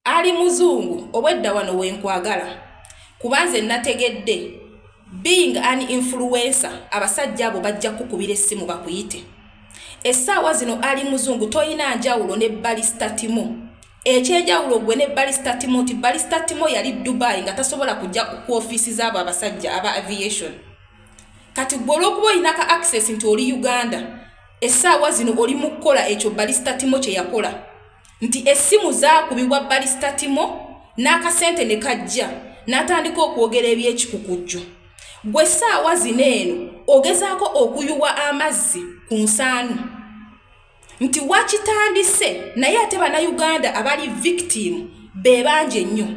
ali muzungu obwedda wano wenkwagala kuba nze nategedde being an influencer abasajja abo bajja kukubira essimu bakuyite essaawa zino ali muzungu tolina njawulo ne balista timo ekyenjawulo gwe ne balista timo nti balista timo yali dubai nga tasobola kujja ku ofiisi zaabo abasajja aba aviation kati gwe olwokuba olina ka access nti oli uganda essaawa zino oli mu kukola ekyo balista timo kye yakola nti essimu zaakubibwa balisita timo n'akasente ne kajja n'atandika okwogera eby'ekikukujju gwe ssaawa zino eno ogezaako okuyuwa amazzi ku nsaanu nti wakitandise naye ate bannayuganda abali vikitiimu be bangi ennyo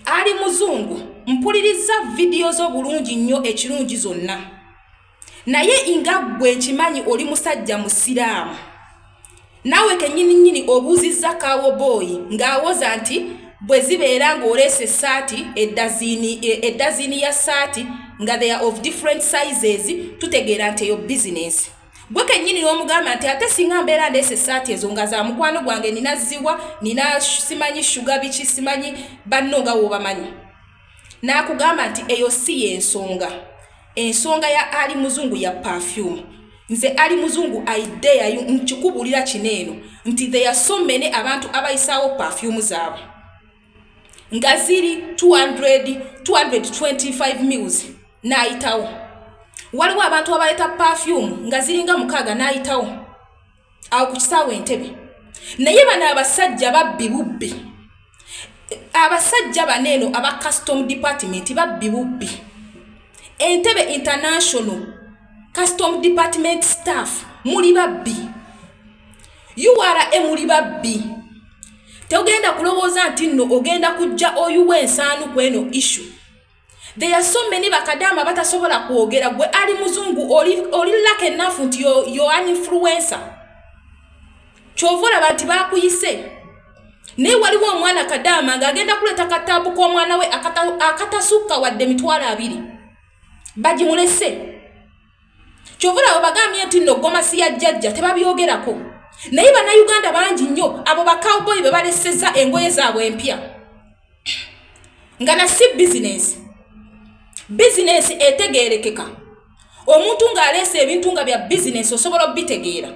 ali muzungu mpulirizza vidiyo zo bulungi nnyo ekirungi zonna naye inga gwe nkimanyi oli musajja musiraamu naawe kenyini nyini obuuzizza kaawo booyi ng'awoza nti bwe zibeera ng'oleese essaati eddaziini e, eddaziini ya ssaati nga they are of different sizes tutegeera nti eyo bizinensi gwe kenyini n'omugamba nti ate singa mbeera ndeese essaati ezo nga za mukwano gwange nina ziwa nina simanyi shuga biki simanyi banno nga woobamanyi n'akugamba nti eyo si y'ensonga ensonga ya ali muzungu ya perfume nze ali muzungu idea nkikubuulira kino eno nti theya so many abantu abayisaawo perfume zaabwe nga ziri 200 225 mills n'ayitawo waliwo abantu abaleeta perfume nga ziringa mukaaga n'ayitawo awo ku kisaawe entebe naye bano abasajja babbi bubbi abasajja bano eno aba custom department babbi bubbi entebe international custom department staff muli babbi ura muli babbi togenda kulowooza nti nno ogenda kujja oyuwa ensaanu ku eno issue There are so many bakadama batasobola kwogera gwe ali muzungu oli oli luck enough nti yo yo an influencer. Chovola bantu bakuyise. Ne waliwo omwana kadama nga agenda kuleta katabu kwa mwana we akata akatasuka wadde mitwala abiri. Baji mulese. kyovula abo bagambye nti no gomasi ya jjajja tebabyogerako naye bannayuganda bangi nnyo abo bacowboy be baleseza engoye zaabwe empya nga na si bizinesi bizinesi etegeerekeka omuntu ng'aleesa ebintu nga bya bizinesi osobola obitegeera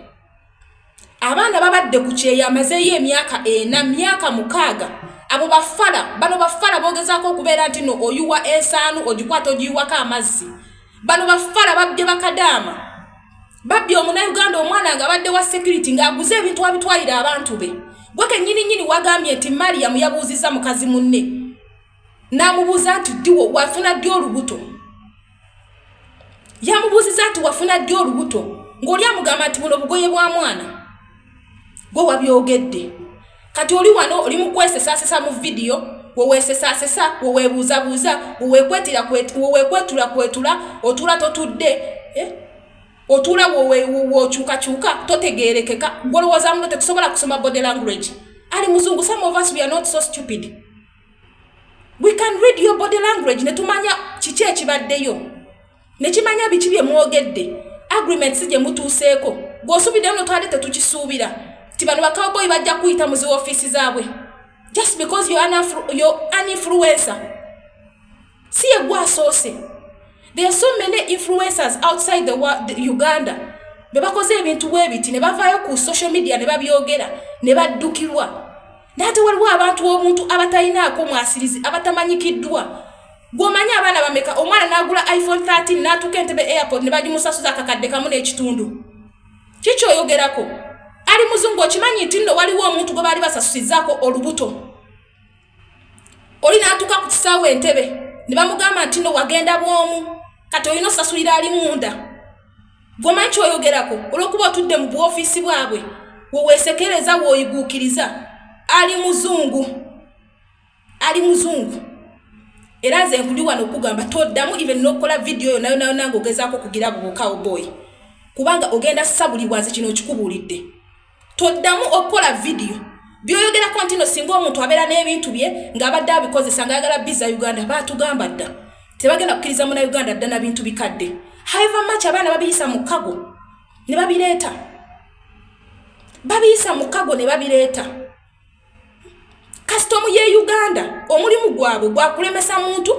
abaana babadde ku kyeyo amazeeyo emyaka ena myaka mukaaga abo bafala bano bafala bogezaako okubeera nti no oyuwa ensaanu ogikwata ogiyiwako amazzi bano bafala babbye bakadaama babbye omunauganda omwana nga badde wa security ng'aguze ebintu abitwalira abantu be gwe kenyini nyini wagambye nti mariyamu yabuuzizza mukazi munne n'amubuuza nti ddiwo wafuna ddi olubuto yamubuuziza nti wafuna ddi olubuto ng'oli amugamba nti buno bugoye bwa mwana gwe wabyogedde kati oli wano oli mu kwesesaasesa mu vidiyo weweesesaasesa weweebuuzabuuza weweekwetula kwetula otuula totudde eh? otuula wokyukakyuka totegeerekeka gwolowooza muno tetusobola kusoma body language ali muzungu some of us we are not so stupid we can read your body language ne tumanya kiki ekibaddeyo ne kimanya biki bye mwogedde agreement si gye mutuuseeko gw'osuubidde muno twali tetukisuubira ti bano bakawboyi bajja kuyita mu zi ofiisi zaabwe just because you're an influencer si ye gwa asoose there are so many influencers outside the, world, the uganda be bakoze ebintu bwe biti ne bavaayo ku social media ne babyogera ne baddukirwa naate waliwo abantu omuntu abatalinaako mwasirizi abatamanyikiddwa gwomanyi abaana bameka omwana nagula iphone 13 natuka entebe airport ne bagimusasuza akakadde kamu n'ekitundu kikyoyogerako ali muzungu okimanyi nti nno waliwo omuntu gwe baali basasusizaako olubuto oli n'atuuka ku kisaawe entebe ne bamugamba nti no wagenda bwomu kati olina osasulira ali munda gwomanyi kyoyogerako olwokuba otudde mu buofiisi bwabwe weweesekereza weoyiguukiriza ali muzungu ali muzungu era nze nkuli wano okugamba toddamu even n'okukola vidiyo yo nayonayona nga ogezaako okugira bubukawo boyi kubanga ogenda sabulibwa nze kino okikubuulidde toddamu okukola vidiyo byoyogerako nti no singa omuntu abeera n'ebintu bye ng'abadde abikozesa ngaayagala biza uganda baatugamba dda tebagenda kukkiriza muna uganda dda na bintu bikadde haiva mach abaana babiyisa mu kago ne babireeta babiyisa mu kago ne babireeta kasitomu ye uganda omulimu gwabwe gwakulemesa muntu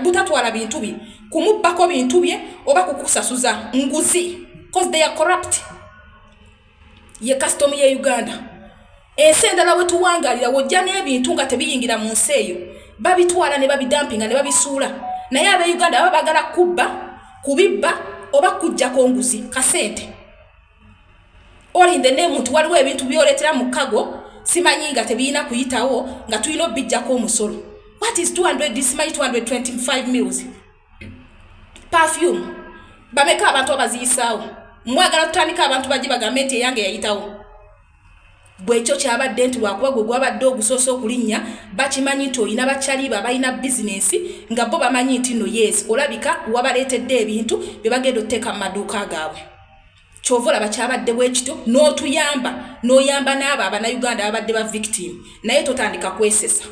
butatwala bintu bye kumubbako bintu bye oba kukusasuza nguzi cause they are corrupt ye kasitomu ye uganda ensi endala wetuwangalira wojja n'ebintu nga tebiyingira mu nsi eyo babitwala ne babidampinga ne babisuula naye abeuganda baba bagala kubba kubibba oba kujjako nguzi kasente oli in the name nti waliwo ebintu byoletera mu kago simanyi nga tebiyina kuyitawo nga tulina obijjako omusolo what is 200 simanyi 225 mills perfume bameka abantu abaziyisaawo mwagala tutandika abantu baje bagambe nti eyange yayitawo bwekyo kyabadde nti lwakuba gwe gwabadde ogusoosa okulinnya bakimanyi nti olina bakyaliba balina bizinensi nga bo bamanyi nti no yes olabika wabaleetedde ebintu bye bagenda okuteeka mu maduuka gaabwe kyova olaba kyabadde bwekityo n'otuyamba n'oyamba n'abo abanauganda babadde ba victim naye totandika kwesesa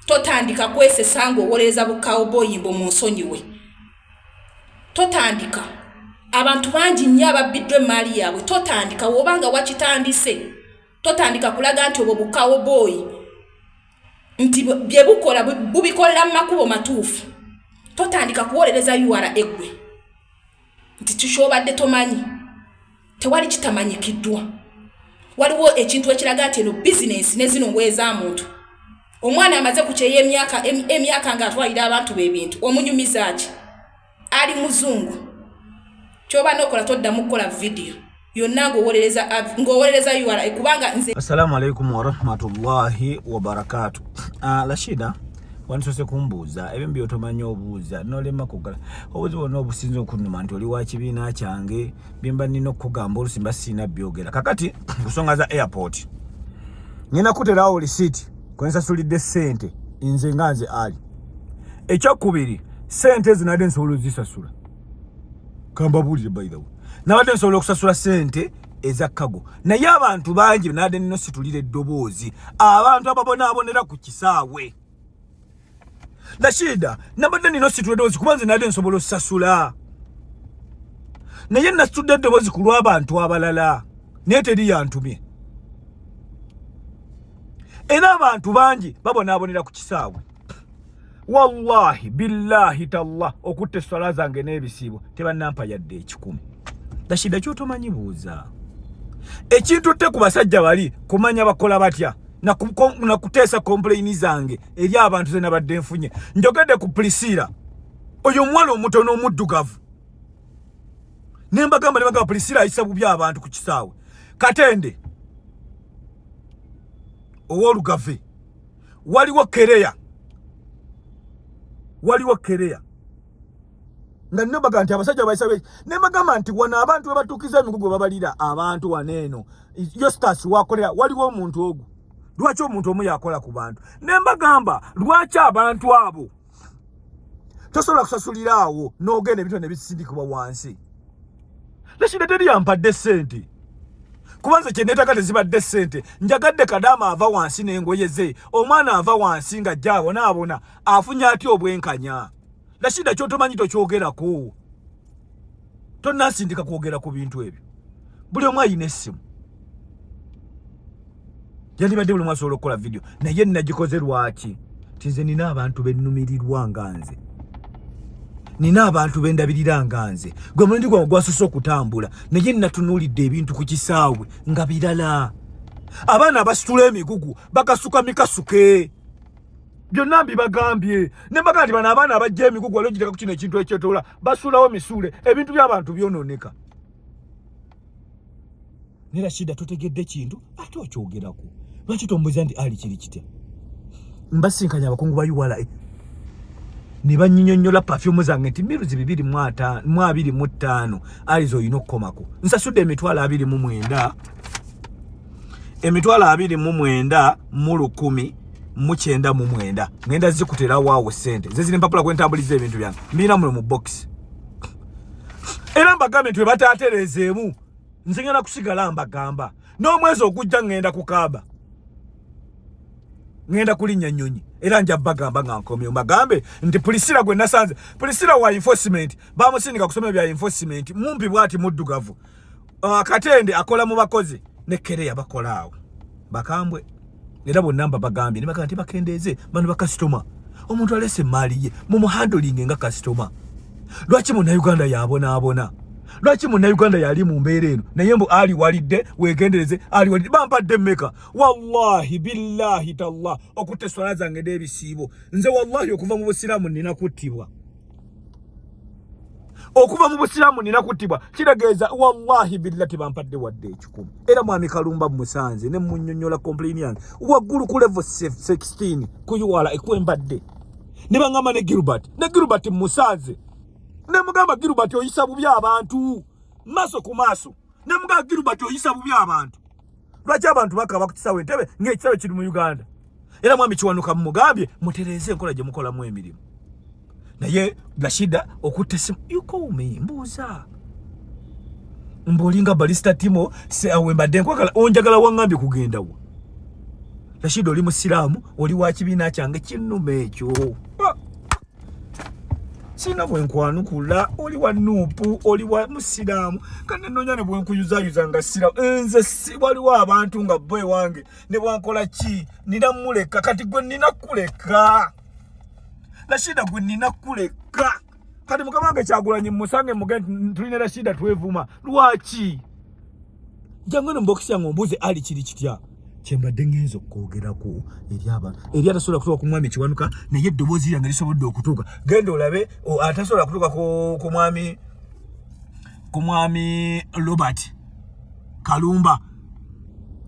totandika kwesesa ng'owolereza bukawubooyi mbu munsonyiwe totandika abantu bangi nnyo ababbiddwa emmaali yaabwe totandika woba nga wakitandise totandika kulaga nti obwo bukawubooyi nti bye bukola bubikolera mu makubo matuufu totandika kuwolereza ura eggwe nti kikyobadde tomanyi tewali kitamanyikiddwa waliwo ekintu ekiraga nti eno bizinensi nezino ngoye za muntu omwana amaze ku kyeyo emyaka emyaka ng'atwalira abantu b'ebintu omunyumiza ki ali muzungu kyoba nokola toddamu kukola vidiyo yonna ng'owolereza ng'owolereza ura kubanga nze assalamu alaikum warahmatullahi wabarakatu uh, ah, rashida wandisose kumbuuza ebyo byotomanyi obuuza nolema kugala obuzi bwonna obusinza okunuma nti oli wakibiina kyange byemba nina okukugamba olusi mba siina byogera kakati kusonga za airport nina kuterawo lisiti kwensasulidde sente nze nga nze ali ekyokubiri sente ezinadde nsobola ozisasula kambabulire by the way nabadde nsobola okusasula sente eza kago naye abantu bangi nade nino situlira eddoboozi abantu ababonaabonera ku kisaawe nashida nabadde nino situla eddoboozi kuba nze nade nsobola osasula naye nasitudde eddoboozi ku lw'abantu abalala naye teri yantumye era abantu bangi babonaabonera ku kisaawe wallahi billahi tallah okutta esswala zange n'ebisiibo tebannampa yadde ekikumi dashida kyotomanyi buuza ekintu tte ku basajja bali kumanya bakola batya nakuteesa kompuleyini zange eri abantu ze nabadde nfunye njogedde ku pulisiira oyo omuwala omutono omuddugavu ne mbagamba ne bagamba pulisiira ayisa bubi abantu ku kisaawe katende ow'olugave waliwo kereya waliwo kereya nga nno baga nti abasajja bayisabe ne bagamba nti wano abantu webatuukiza emigugu babalira abantu wano eno yostas wakolera waliwo omuntu ogwo lwaki omuntu omu yakola ku bantu ne mbagamba lwaki abantu abo tosobola kusasulira awo n'ogenda ebintu nebisindikibwa wansi leshida teri yampadde sente kuba nze kyenetaka tezibadde sente njagadde kadaama ava wansi n'engoye ze omwana ava wansi nga jja abonaabona afunye atya obwenkanya leshida kyotomanyi tokyogerako tonnasindika kwogera ku bintu ebyo buli omu ayina essimu yandibadde buli omu asobola okukola vidiyo naye nagikoze lwaki ti nze nina abantu bennumirirwa nga nze nina abantu bendabirira nga nze gwe mulundi gwange gwasose okutambula naye natunulidde ebintu ku kisaawe nga birala abaana abasitula emigugu bakasuka mikasuke byonna mbibagambye ne mbaga nti bano abaana abajja emigugu wali ogiteka ku kino ekintu ekyetoola basuulawo misuule ebintu by'abantu byonooneka ne rashida totegedde kintu ate okyogerako lwaki tombuza nti ali kiri kitya mbasinkanya abakungu ba ula e. ne banyinyonyola pafyumu zange nti miruzi bibiri mu abiri mu ttaano aliza olina okukomako nsasudde emitwalo abiri mu mwenda emitwalo abiri mu mwenda mu lukumi mu kyenda mu mwenda ngenda zikutera waawo sente ze ziri empapula kwentambuliza ebintu byange mbirina muno mu bokisi era mbagambye nti webataatereezeemu nze ngenda kusigala mbagamba n'omwezi ogujja ngenda kukaaba ngenda kulinnya nnyonyi era nja bagamba nga nkomye mbagambe nti pulisira gwe nasanze pulisira wa enforcement bamusindika kusoma ebya enforcement mumpi bwati muddugavu uh, katende akola mu bakozi ne kereya bakola awo bakambwe era bonna mba bagambye nebaga nti bakendeeze bano bakasitoma omuntu alese emaali ye mumuhandolinge nga kasitoma lwaki munauganda yabonaabona lwaki munauganda yali mu mbeera eno naye mbu ali walidde wegendereze ali walidde bampadde mmeka wallahi billahi tallah okutta eswala zange n'ebisiibo nze wallahi okuva mu busiraamu nina kuttibwa okuva mu busiraamu nina kuttibwa kitegeeza wallahi billa tebampadde wadde ekikumi era mwami kalumba musanze ne munyonyola komplaini yange waggulu ku levo 16 kuyiwala ekwembadde ne bangamba ne gilbert ne gilbert musanze ne mugamba gilbert oyisa bubi abantu maaso ku maaso ne muka Gilbert oyisa bubi abantu lwaki abantu bakaba ku kisawe ntebe ng'ekisawe kiri mu Uganda era mwami kiwanuka mumugambye mutereeze enkola gye mukolamu emirimu naye Rashida okutte simu you call me mbuuza mbolinga balista timo se awembadde nkwagala onjagala wangambye kugendawo Rashida oli musiraamu oli wa kibiina kyange kinnuma ekyo sina bwenkwanukula oli wa nuupu oli wa musiraamu kane nonya ne bwenkuyuzayuza nga sira nze waliwo abantu nga bo ewange ne bwankola ki nina muleka kati gwe nina kuleka rashida gwe nina kuleka kati mukama wange kyagulanyi musange muge tulina rashida twevuma lwaki jangano mbokisi yange ombuuze ali kiri kitya kyembadde ngenza okwogerako eri abantu eri atasobola kutuuka ku mwami kiwanuka naye eddoboozi lyange lisobodde okutuuka genda olabe atasobola kutuuka ku mwami ku mwami robert kalumba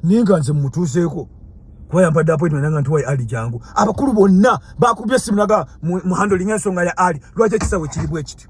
naye nga nze mumutuuseeko kuba yampadde appointment nanga nti wayi ali jangu abakulu bonna bakubye simu naga muhandolinga ensonga ya ali lwaki ekisawe kiri bwekityo